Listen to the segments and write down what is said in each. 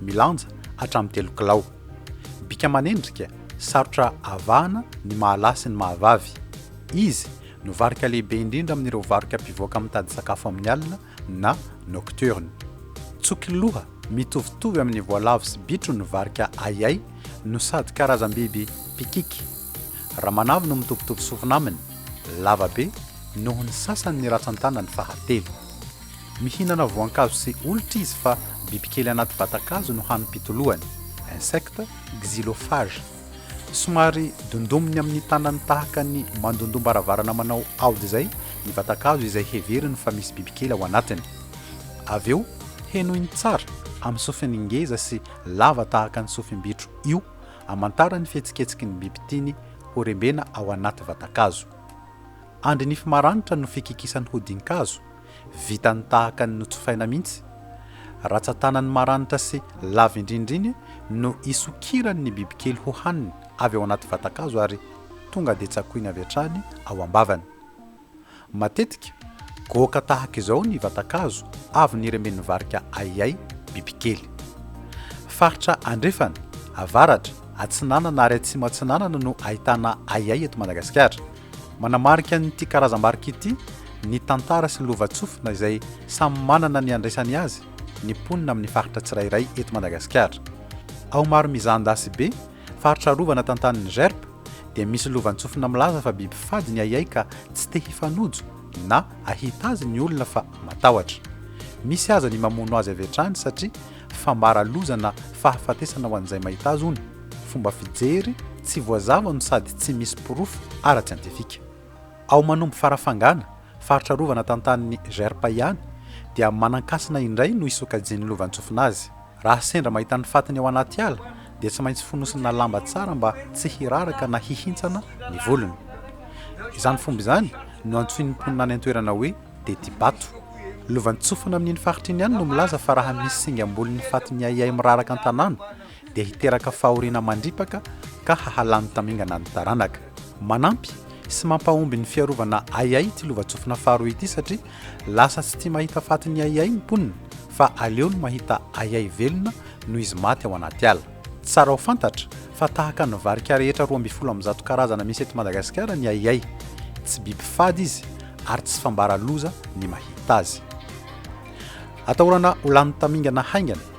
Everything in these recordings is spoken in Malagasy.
milanja hatramin'ny telo kilao. Bika manendrika, sarotra avahana ny mahalahy sy ny mahavavy. Izy no varika lehibe indrindra amin'ireo varoka mpivoaka mitady sakafo amin'ny alina na nocturne. Tsokiloha mitovitovy amin'ny voalavo sy bitro ny varika ahiahy no sady karazam-biby mpikiky. Ramanavy no mitovitovy sofina aminy, lava be noho ny sasany ny ratsan-tanany fahatelo. Mihinana voankazo sy olitra izy fa bibikely anaty vatan-kazo no hanim-pitoloany, insectes, xylophage. Somary dondominy amin'ny tanany tahaka ny mandondom-baravarana manao aody izay ny vatan-kazo izay heveriny fa misy bibikely ao anatiny. Avy eo, henoiny tsara amin'ny sofiny ngeza sy lava tahaka ny sofim-bitro io amantara ny fihetsiketsky ny biby tiany horembena ao anaty vatan-kazo. Andry nify maranitra no fikikisany hodin-kazo. Vitany tahaka ny notsofaina mihitsy. Ratsan-tanany maranitra sy lava indrindra iny no isokirany ny bibikely hohaniny avy ao anaty vatan-kazo ary tonga dia tsakoiny avy hatrany ao am-bavany. Matetika, goaka tahaka izao ny vatan-kazo avy niremen'ny varika ahiahy, bibikely. Faritra andrefana, avaratra, atsinanana ary atsimo-atsinanana no ahitana ahiahy eto Madagasikara. Manamarika an'ity karazam-barika ity ny tantara sy lovantsofina izay samy manana ny andraisany azy ny mponina amin'ny faritra tsirairay eto Madagasikara. Ao Maromizandasy be, faritra arovana tantanin'ny GERP, dia misy lovantsofina milaza fa biby fady ny ahiahy ka tsy te hifanojo na ahita azy ny olona fa matahotra. Misy aza ny mamono azy avy hatrany satria fambara loza na fahafatesana ho an'izay mahita azy hono. fomba fijery tsy voazava no sady tsy misy porofo ara-tsiantifika. Ao Manombo Farafangana, faritra arovana tantanin'ny GERP ihany, dia Manankasina indray no isokajian'ny lovantsofina azy. Raha sendra mahita ny fatiny ao anaty ala, dia tsy maintsy fonosina lamba tsara mba tsy hiraraka na hihintsana ny volony. Izany fomba izany no antsoin'ny mponina any an-toerana hoe Tetibato. Lovantsofina amin'iny faritra iny ihany no milaza fa raha misy singam-bolon'ny fatiny ahiahy miraraka an-tanàna, dia hiteraka fahoriana mandripaka ka hahalany tamingana ny taranaka. Manampy sy mampahomby ny fiarovana ahiahy ity lovantsofina faharoa ity satria lasa tsy tia mahita faty ny ahiahy ny mponina fa aleony mahita ahiahy velona noho izy maty ao anaty ala. Tsara ho fantatra fa tahaka ny varika rehetra roa ambin'ny folo amby zato karazana misy eto Madagasikara ny ahiahy. Tsy biby fady izy ary tsy fambara loza ny mahita azy. Atahorana ho lany tamingana haingana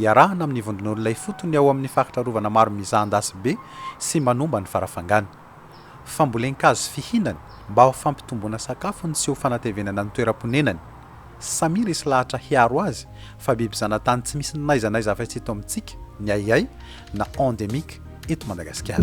Iarahana amin'ny vondron'olona ifotony ao amin'ny faritra arovana maro mizahan-dasy be sy manomba ny farafangana. Fambolen-kazo fihinana mba ho fampitomboana sakafony sy ho fanatevenana ny toeram-ponenany. Samia resy lahatra hiaro azy fa biby zanatany tsy misy n'aiza n'aiza afa-tsy eto amintsika, ny ahiahy, na endémique, eto Madagasikara.